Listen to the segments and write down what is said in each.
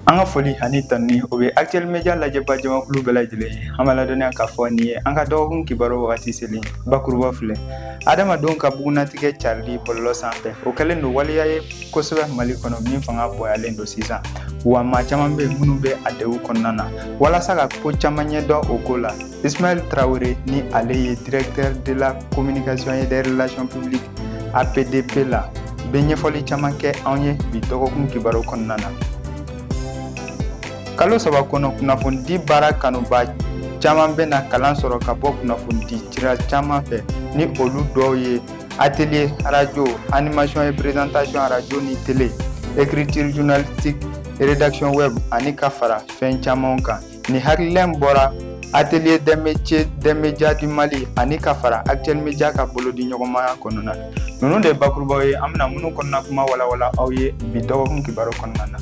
An ka foli ani tanuni o bɛ Actuel Media lajɛba jamakulu bɛɛ lajɛlen ye, an b'a ladɔnniya k'a fɔ nin ye an ka dɔgɔkun kibaru wagati selen, bakuruba filɛ, Adamadenw ka bugunnatigɛ carili bɔlɔlɔ sanfɛ, o kɛlen don waleya ye kosɛbɛ Mali kɔnɔ min fanga bonyalen don sisan, wa maa caman bɛ minnu bɛ a degun kɔnɔna na, walasa ka ko caman ɲɛdɔn o ko la, Ismaël Traoré ni ale ye directeur de la communication et des relations publiques APDP la bɛ ɲɛfɔli caman kɛ anw ye bi dɔgɔkun kibaru kɔnɔna na kalo saba kɔnɔ kunnafonidi baara kanuba caman bɛna kalan sɔrɔ ka bɔ kunnafonidi sira caman fɛ ni olu dɔw ye atelier radio animation et présentation radio ni télé écriture journalistique rédaction web ani ka fara fɛn camanw kan Nin hakilila in bɔra Atelier des métiers des médias du Mali ani ka fara Actuel Media ka bolodiɲɔgɔnmaya kɔnɔna na. Ninnu de ye bakurubaw ye an bɛna minnu kɔnɔna kuma walawala aw ye bi dɔgɔkun kibaru kɔnɔna na.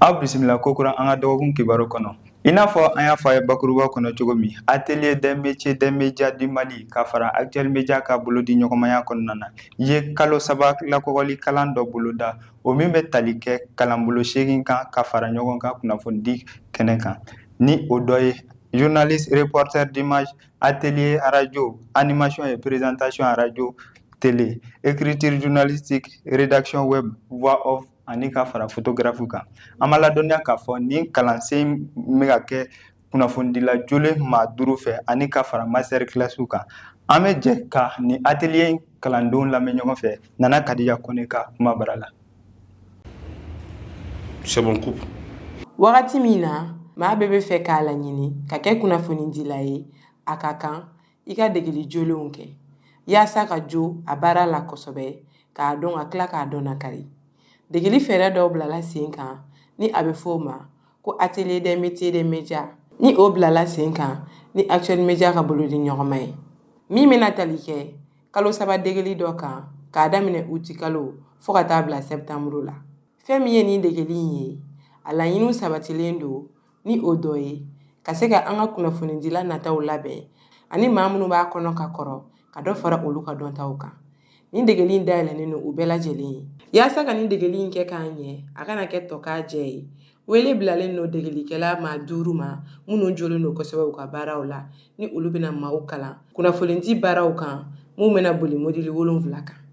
Aw bisimila kokura an ka dɔgɔkun kibaru kɔnɔ. I n'a fɔ an y'a fɔ a ye bakuruba kɔnɔ cogo min, Atelier des métiers des médias du Mali ka fara Actuel Media ka bolodiɲɔgɔnmaya kɔnɔna na, ye kalo saba lakɔgɔli kalan dɔ boloda o min bɛ tali kɛ kalanbolo seegin kan ka fara ɲɔgɔn kan kunnafonidi kɛnɛ kan ni o dɔ ye journaliste reporter d'image atelier radio animation et présentation radio télé écriture journalistique rédaction web voix off ani ka fara photographe kan an b'a ladɔnniya k'a fɔ nin kalansen bɛ ka kɛ kunnafonidila jolen maa duuru fɛ ani ka fara master classw kan an bɛ jɛ ka nin atelier in kalandenw lamɛn ɲɔgɔn fɛ nana Kadija Koné ka kuma bara la wagati min na maa bɛɛ bɛ fɛ k'a laɲini ka kɛ kunnafonidila ye a ka kan i ka degeli jolenw kɛ yaasa ka jo a baara la kosɛbɛ k'a dɔn ka tila k'a dɔnnakari degeli fɛɛrɛ dɔw bilala sen kan ni a bɛ f'o ma ko Atelier des métiers des médias ni o bilala sen kan ni Actuel Media ka bolodiɲɔgɔnma ye min bɛna tali kɛ kalo saba degeli dɔ kan k'a daminɛ uti kalo fo ka taa bila sɛptanburu la fɛn min ye nin degeli in ye a laɲiniw sabatilen don ni o dɔ ye ka se ka an ka kunnafonidila nataw labɛn ani maa minnu b'a kɔnɔ ka kɔrɔ ka dɔ fara olu ka dɔntaw kan nin degeli in dayɛlɛnnen don u bɛɛ lajɛlen ye yaasa ka nin degeli in kɛ k'a ɲɛ a kana kɛ tokajɛ ye wele bilalen don degelikɛla maa duuru ma minnu jolen don kosɛbɛ u ka baaraw la ni olu bɛna maaw kalan kunnafonidi baaraw kan minnu bɛna boli modili wolonfila kan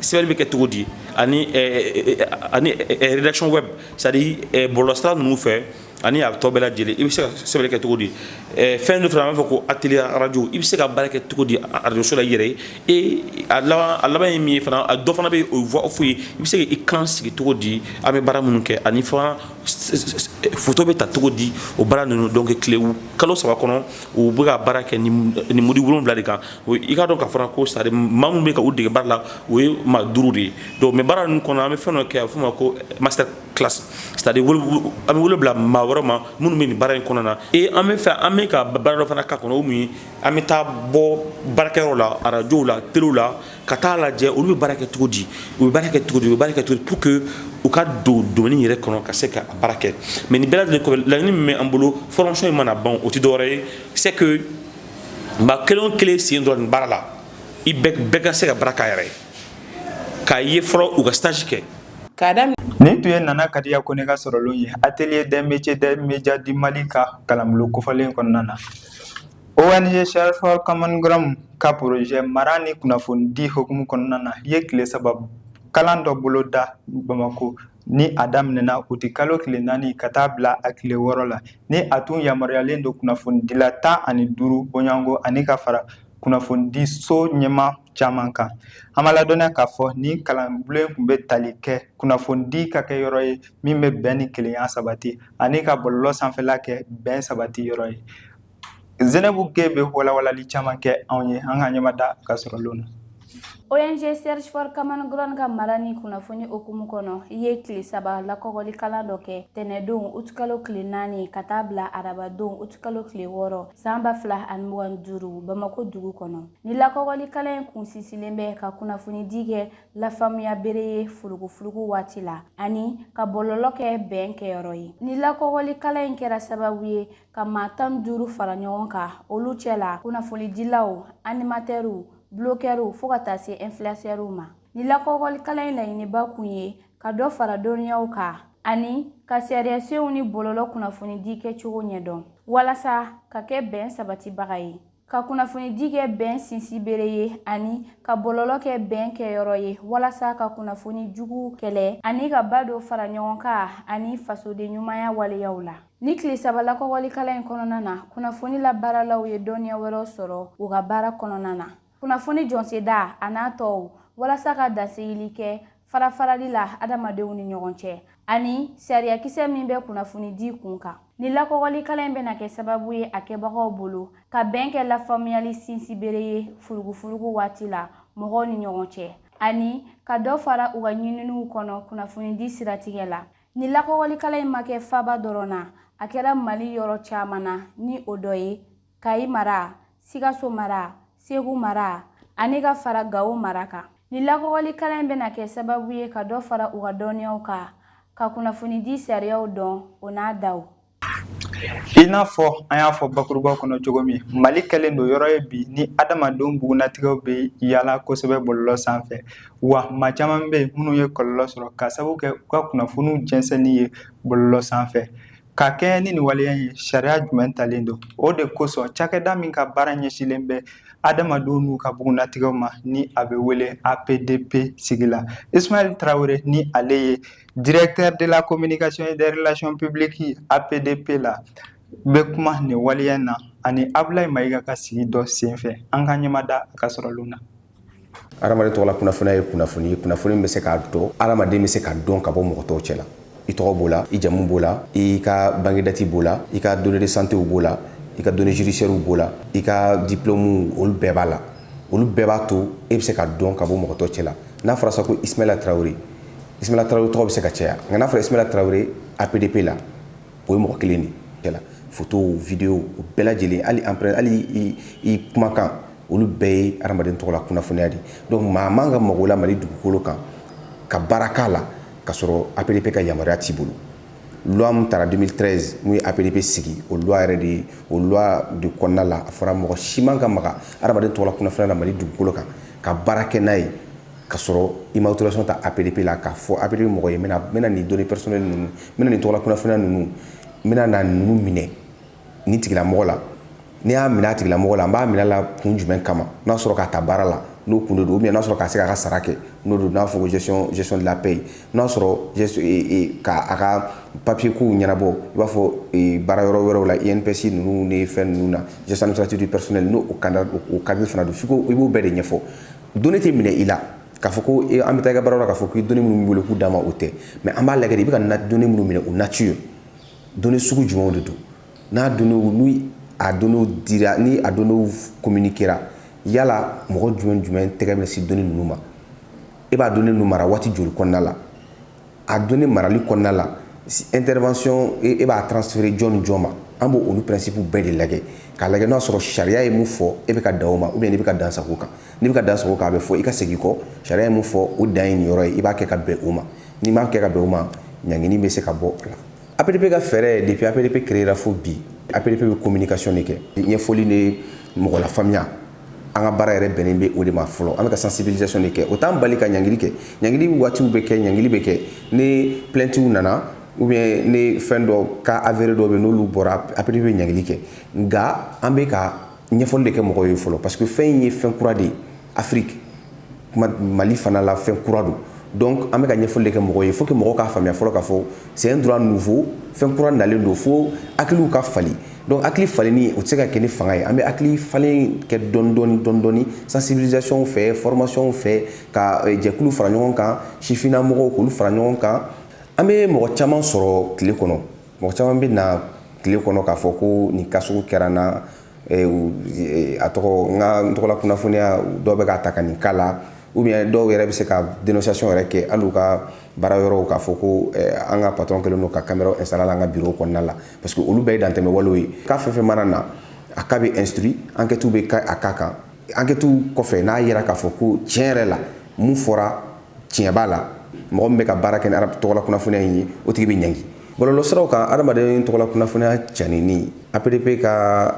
sɛbɛnni bɛ kɛ cogo di ani rédaction web c'est-à-dire bɔlɔlɔsira ninnu fɛ ani a tɔ bɛɛ lajɛlen i bɛ se ka sɛbɛnni kɛ cogo di fɛn dɔ fana an b'a fɔ ko atelier radio i bɛ se ka baara kɛ cogo di arajoso la i yɛrɛ ye e a laban ye min ye fana dɔ fana bɛ yen o ye voix off ye i bɛ se k'i kan sigi cogo di an bɛ baara minnu kɛ ani fana photo bɛ ta cogo di o baara ninnu donc tile kalo saba kɔnɔ u bɛ ka baara kɛ ni module wolonwula de kan i k'a dɔn k'a fɔ ko c'est-à-dire maa minnu bɛ ka u dege baara la o ye maa duuru de ye donc mais baara ninnu kɔnɔ an bɛ fɛn dɔ kɛ a bɛ f'o ma ko master classe c'est-à-dire an bɛ wele bila maa wɛrɛ ma minnu bɛ nin baara in kɔnɔna na ee an bɛ fɛ an bɛ ka baara dɔ fana k'a kɔnɔ min an bɛ taa bɔ baarakɛyɔrɔ la arajow la telew la ka taa a lajɛ olu bɛ baara kɛ cogo di u b'a kɛ cogo u b'a kɛ cogo di pour que u ka don domaine yɛrɛ kɔnɔ ka se ka baara kɛ mais nin bɛɛ lajɛlen kɔfɛ laɲini min bɛ an bolo formation in mana ban o tɛ dɔwɛrɛ ye c'est maa kelen o kelen sen don nin baara la i bɛɛ ka se ka baara k'a yɛrɛ ye k'a ye fɔlɔ u ka stage kɛ nin tun ye Nana Kadiya Kone ka sɔrɔlen ye atelier des métiers des médias du mali ka kalanbolo kofɔlen kɔnɔna na ONG Search for Common Ground ka projet mara ni kunnafonidi hukumu kɔnɔna na ye tile saba kalan dɔ boloda Bamako ni a daminɛna utikalo tile naani ka taa bila a tile wɔɔrɔ la ni a tun yamaruyalen don kunnafonidila tan ani duuru bɔɲɔgɔnko ani ka fara kunnafonidi so ɲɛmaa caman kan an b'a ladɔnniya k'a fɔ nin kalanbulon tun bɛ tali kɛ kunnafonidi ka kɛ yɔrɔ ye min bɛ bɛn ni kelenya sabati ani ka bɔlɔlɔ sanfɛla kɛ bɛn sabati yɔrɔ ye Zɛnɛbu Ge bɛ walawalali caman kɛ anw ye an ka ɲɛmada ka sɔrɔlen na. ONG Search for Common Ground ka mara ni kunnafoni hukumu kɔnɔ, i ye tile saba lakɔgɔli kalan dɔ kɛ tɛnɛdon utikalo tile naani ka taa bila arabadon utikalo tile wɔɔrɔ san ba fila ani mugan ni duuru Bamako dugu kɔnɔ. Ni lakɔgɔli kalan in kun sinsinnen bɛ ka kunnafonidi kɛ lafaamuya bere ye furugufurugu waati la ani ka bɔlɔlɔ kɛ bɛn kɛyɔrɔ ye. Ni lakɔgɔli kalan in kɛra sababu ye ka maa tan ni duuru fara ɲɔgɔn kan olu cɛ la kunnafonidilaw animatɛriw bulokɛriw fɔɔ ka taa se ɛnfiliyansɛriw ma ni lakɔgɔli kalan in laɲiniba kun ye ka dɔ fara dɔnniyaw kan ani ka sariyasenw ni bɔlɔlɔ kunnafonidi kɛcogo ɲɛdɔn walasa ka kɛ bɛn sabatibaga ye ka kunnafonidi kɛ bɛn sinsi bere ye ani ka bɔlɔlɔ kɛ bɛn kɛyɔrɔ ye walasa ka kunnafoni juguw kɛlɛ ani ka ba don faraɲɔgɔnkan ani fasoden ɲumanya waleyaw la ni tile saba lakɔgɔli kalan in kɔnɔna na kunnafoni labaaralaw ye dɔnniya wɛrɛw sɔrɔ u ka baara kɔnɔna na kunnafoni jɔnseda a n'a tɔw walasa ka dansigili kɛ farafarali la adamadenw ni ɲɔgɔn cɛ ani sariyakisɛ min bɛ kunnafonidi kun kan ni lakɔgɔlikalan in bɛna kɛ sababu ye a kɛbagaw bolo ka bɛn kɛ lafaamuyali sinsibere ye furugufurugu waati la mɔgɔw ni ɲɔgɔn cɛ ani ka dɔ fara u ka ɲininiw kɔnɔ kunnafonidi siratigɛ la ni lakɔgɔlikalan in ma kɛ faaba dɔrɔn na a kɛra mali yɔrɔ caman na ni o dɔ ye kayi mara sikaso mara segu mara ani ka fara gawo mara kan ni lakɔgɔli kalan in bɛna kɛ sababu ye ka dɔ fara u ka dɔnniyaw kan ka kunnafonidi sariyaw dɔn o n'a daw i n'a fɔ an y'a fɔ bakuruba kɔnɔ cogo min mali kɛlen don yɔrɔ ye bi ni adamadenw bugunnatigɛw bɛ yala kosɛbɛ bɔlɔlɔ sanfɛ wa maa caman bɛ yen minnu ye kɔlɔlɔ sɔrɔ k'a sababu kɛ u ka kunnafoniw jɛnsɛnni ye bɔlɔlɔ sanfɛ Ka kɛɲɛ ni nin waleya in ye, sariya jumɛn talen don? O de kosɔn cakɛda min ka baara ɲɛsinlen bɛ adamadenw n'u ka bugunnatigɛw ma ni a bɛ wele APDP sigila. Ismaël Traoré ni ale ye directeur de la communication et des relations publiques APDP la bɛ kuma nin waleya in na ani Abulayi Mayiga ka sigi dɔ senfɛ. An ka ɲɛmada a ka sɔrɔlenw na. adamaden tɔgɔla kunnafoniya ye kunnafoni ye kunnafoni bɛ se k'a dɔn adamaden bɛ se ka dɔn ka bɔ mɔgɔ tɔw cɛ la i tɔgɔ b'o la i jamu b'o la i ka bangedati b'o la i ka données de santéw b'o la i ka données judiciairew b'o la i ka diplɔmu olu bɛɛ b'a la olu bɛɛ b'a to e bɛ se ka dɔn ka bɔ mɔgɔ tɔw cɛ la n'a fɔra sa ko ismaila tarawele ismaila tarawele tɔgɔ bɛ se ka caya nka n'a fɔra ismaila tarawele apdp la o ye mɔgɔ kelen de cɛ la fotow videow o bɛɛ lajɛlen hali empreinte hali i kumakan olu bɛɛ ye adamaden tɔgɔ la kunnafoniya de donc maa man ka mag'o la mali dugukolo kan ka baara k'a la ka sɔrɔ apdp ka yamaruya t'i bolo loi min tara 2013 min ye apdp sigi o loi yɛrɛ de o loi de kɔnɔna la a fɔra mɔgɔ si man ka maga adamaden tɔgɔ la kunnafoniya la mali dugukolo kan ka baara kɛ n'a ye ka sɔrɔ i ma autorisation ta apdp la k'a fɔ apdp mɔgɔ ye n bɛna nin données personnelles ninnu n bɛna nin tɔgɔ la kunnafoniya ninnu n bɛna na ninnu minɛ nin tigilamɔgɔ la n'i y'a minɛ a tigilamɔgɔ la an b'a minɛ la kun jumɛn kama n'a sɔrɔ k'a ta baara la n'o kun de don n'a sɔrɔ ka se k'a ka sara kɛ n'o don n'a fɔ gestion de la paie n'a sɔrɔ ka a ka papier kow ɲɛnabɔ i b'a fɔ e, baara yɔrɔ wɛrɛw la INPS e ninnu ni fɛn ninnu na gestion administrative du personnel n'o o cadre fana don f'i ko i b'o bɛɛ de ɲɛfɔ données tɛ minɛ i la k'a fɔ ko e, an bɛ taa i ka baara la k'a fɔ k'i données minnu b'i bolo k'u d'an ma o tɛ mais an b'a lajɛ de i bɛ ka données minnu minɛ o nature Données sugu jumɛnw de don n'a données ni a données dira ni a données communiquera yala mɔgɔ jumɛn jumɛn tɛgɛ bɛ se données ninnu ma e b'a données ninnu mara waati joli kɔnɔna la a données marali kɔnɔna la intervention e b'a transférer jɔn ni jɔn ma an b' olu principe bɛɛ de lajɛ k'a lajɛ n'a sɔrɔ sariya ye min fɔ e bɛ ka dan o ma ou bien n'i bɛ ka dansago kan n'i bɛ ka dansago kan a bɛ fɔ i ka segin kɔ sariya ye min fɔ o dan ye nin yɔrɔ ye i b'a kɛ ka bɛn o ma n'i m'a kɛ ka bɛn o ma ɲangini bɛ se ka bɔ o la APDP ka fɛɛrɛ depuis APDP créera fo bi APDP bɛ communication de kɛ ɲɛfɔli ni mɔgɔ lafaamuya an ka baara yɛrɛ bɛnnen bɛ o de ma fɔlɔ an bɛ ka sensibilisation de kɛ o t'an bali ka ɲangili kɛ ɲangili waatiw bɛ kɛ ɲangili bɛ kɛ ni plaintes nana ou bien ni fɛn dɔ cas avéré dɔw bɛ n'olu bɔra APDP bɛ ɲangili kɛ nka an bɛ ka ɲɛfɔli de kɛ mɔgɔw ye fɔlɔ parce que fɛn in ye fɛn kura de ye Afrique kɔnɔ Mali fana la fɛn kura don donc an bɛ ka ɲɛfɔli de kɛ mɔgɔw ye faut que mɔgɔw k'a faamuya fɔlɔ k'a fɔ c'est un droit nouveau fɛn kura nalen don fo hakiliw ka falen donc hakili falenni o tɛ se ka kɛ ni fanga ye an bɛ hakili falen kɛ dɔɔni dɔɔni dɔɔni dɔɔni sensibilisation fɛ formation fɛ ka eh, jɛkulu fara ɲɔgɔn kan sifinna mɔgɔw k'olu fara ɲɔgɔn kan an bɛ mɔgɔ caman sɔrɔ tile kɔnɔ mɔgɔ caman bɛ na tile kɔnɔ k'a fɔ ko nin cas sugu kɛra n na a tɔgɔ n ka n tɔgɔla kunnafoniya dɔw bɛ k'a ta ka nin k'a la ou bien dɔw yɛrɛ bɛ se ka dénonciation yɛrɛ kɛ hali u ka baara yɔrɔw k'a fɔ ko an ka patron kɛlen don ka caméra installer la an ka bureau kɔnɔna la parce que olu bɛɛ ye dantɛmɛ walew ye cas fɛn fɛn mana na a cas bɛ instruit enquête bɛ kɛ a cas kan Enquête kɔfɛ n'a yera k'a fɔ ko tiɲɛ yɛrɛ la min fɔra tiɲɛ b'a la mɔgɔ min bɛ ka baara kɛ ni tɔgɔla kunnafoniya in ye o tigi bɛ ɲangi bɔlɔlɔ siraw kan adamaden tɔgɔla kunnafoniya caaninen APDP ka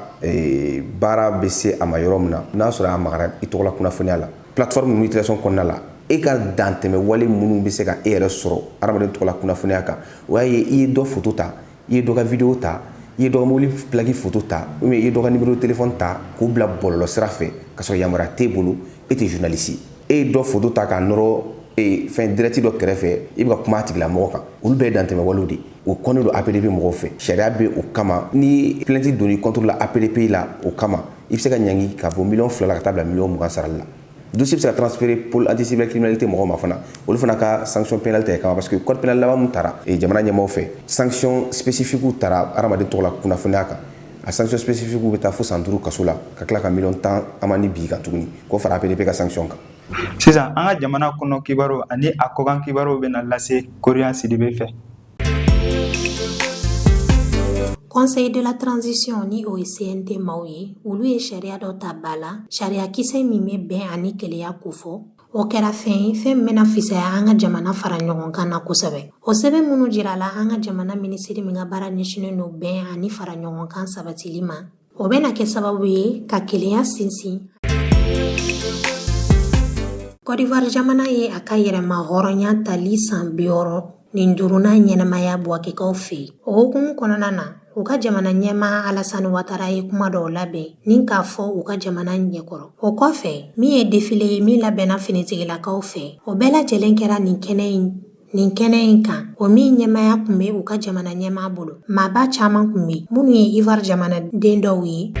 baara bɛ se a ma yɔrɔ min na n'a sɔrɔ a magara i tɔgɔla kunnafoniya la plateforme ninnu utilisation kɔnɔna la e ka dantɛmɛ wale minnu bɛ se ka e yɛrɛ sɔrɔ adamaden tɔgɔla kunnafoniya kan o y'a ye i ye dɔ foto ta i ye dɔ ka video ta i ye dɔ ka mobili plaki foto ta ou bien i ye dɔ ka numéro de téléphone ta k'o bila bɔlɔlɔ sira fɛ ka sɔrɔ yamaruya t'e bolo e tɛ journaliste e ye dɔ foto ta k'a nɔrɔ e, fɛn direct dɔ kɛrɛfɛ i bɛ ka kuma a tigilamɔgɔ kan olu bɛɛ ye dantɛmɛwalew de o kɔnnen don APDP mɔgɔw fɛ sariya bɛ o kama ni plainte donn'i contre la APDP la o kama i bɛ se ka ɲangi ka bɔ miliyɔn fila la ka taa bila miliyɔn mugan sarali la Dossier bɛ se ka transférer pôle anti-cybercriminalité mɔgɔw ma fana olu fana ka sanction pénale ta e kama parce que code pénal laban min tara jamana ɲɛmaaw fɛ sanction spécifique tara adamaden tɔgɔla kunnafoniya kan a sanction spécifique bɛ taa fo san duuru kaso la ka tila ka miliyɔn tan amende bin i kan tuguni k'o fara APDP ka sanction kan sisan an ka jamana kɔnɔ kibaru ani a kɔkan kibaruw bɛna lase Korian Sidibe fɛ Conseil de la transition ni o ye CNT maaw ye olu ye sariya dɔ ta ba la sariyakisɛ min bɛ bɛn ani kelenya kofɔ o kɛra fɛn ye fɛn min bɛna fisaya an ka jamana fara ɲɔgɔn kan na kosɛbɛ o sɛbɛn minnu jirala an ka jamana minisiri min ka baara ɲɛsinnen don bɛn ani fara ɲɔgɔn kan sabatili ma o bɛna kɛ sababu ye ka kelenya sinsin Côte d'Ivoire jamana ye a ka yɛrɛmahɔrɔnya tali san biwɔɔrɔ ni duurunan ɲɛnamaya Buwakekaw fɛ o hukumu kɔnɔna na u ka jamana ɲɛmaa alasani watara ye kuma dɔw labɛn ni k'a fɔ u ka jamana ɲɛkɔrɔ o kɔfɛ min ye défilé ye min labɛnna finitigilakaw fɛ o bɛɛ lajɛlen kɛra nin kɛnɛ in Nin kɛnɛ in kan o min ɲɛmaaya kun bɛ u ka jamana ɲɛmaa bolo maaba caman kun bɛ minnu ye Ivoire jamanaden dɔw ye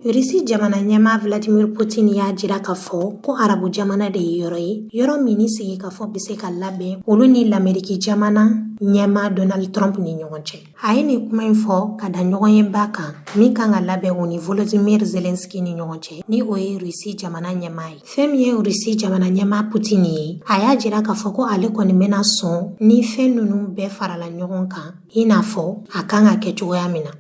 Rusi jamana ɲɛmaa Vladimir Putin y'a jira k'a fɔ ko arabu jamana de ye yɔrɔ ye yɔrɔ min ni sigikafɔ bɛ se ka labɛn olu ni lameriki jamana ɲɛmaa Donald Trump ni ɲɔgɔn cɛ a ye nin kuma in fɔ ka da ɲɔgɔnyeba kan min kan ka labɛn u ni volodymyr zelensky ni ɲɔgɔn cɛ ni o ye rusi jamana ɲɛmaa ye fɛn min ye rusi jamana ɲɛmaa putin ye a y'a jira k'a fɔ ko ale kɔni bɛna sɔn ni fɛn ninnu bɛɛ farala ɲɔgɔn kan i n'a fɔ a kan ka kɛ cogoya min na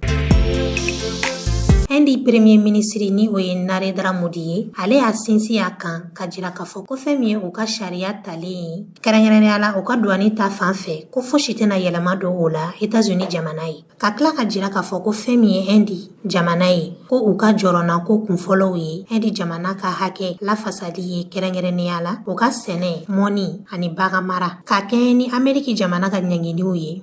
Indi premier minisiri ni o ye Narendra Modi ye, ale y'a sinsin a kan k'a jira k'a fɔ ko fɛn min ye u ka sariya talen ye Kɛrɛnkɛrɛnnenya la u ka duwani ta fan fɛ ko fosi tɛna yɛlɛma don o la États-Unis jamana ye ka tila k'a jira k'a fɔ ko fɛn min ye Indi jamana ye ko u ka jɔrɔnako kunfɔlɔw ye Indi jamana ka hakɛ lafasali ye kɛrɛnkɛrɛnnenya la u ka sɛnɛ mɔni ani baganmara ka kɛɲɛ ni Ameriki jamana ka ɲangiliw ye